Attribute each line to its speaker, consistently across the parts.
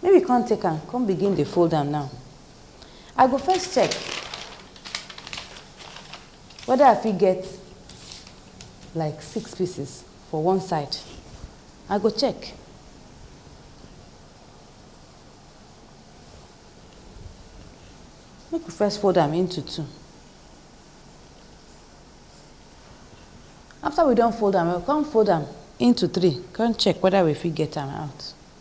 Speaker 1: Make we come take am come begin dey fold am now. I go first check whether I fit get like six pieces for one side. I go check. Make we first fold am into two. After we don fold am, we go come fold am into three, come check whether we fit get am out.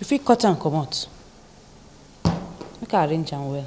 Speaker 1: you fit cut am comot make I arrange am well.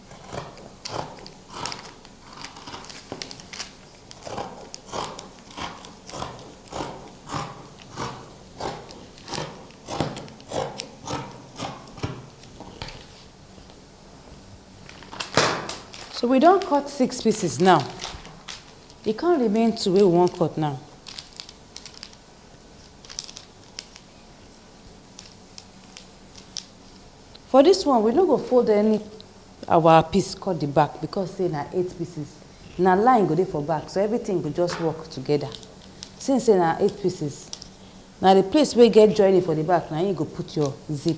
Speaker 1: so we don cut six pieces now e come remain two wey we wan cut now For this one we no go fold any our piece cut the back because say na eight pieces na line go dey for back so everything go just work together since say na eight pieces na the place wey get joining for the back na you go put your zip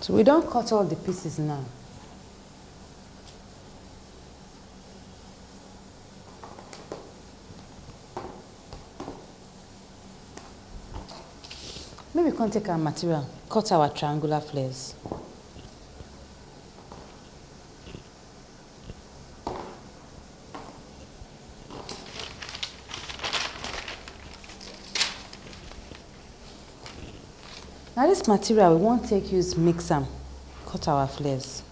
Speaker 1: So we don cut all the pieces now. Make we come take our material, cut our triangular flares. Na dis material we wan take use mix am cut our flex.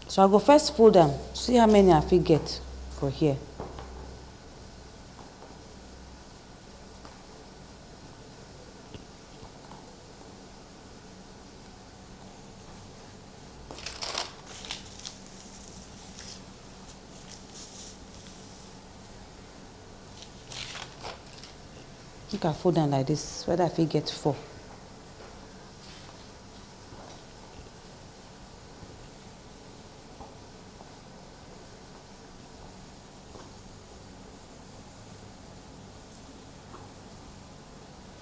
Speaker 1: So I go first fold am see how many I fit get for here. make i fold am like this whether i fit get four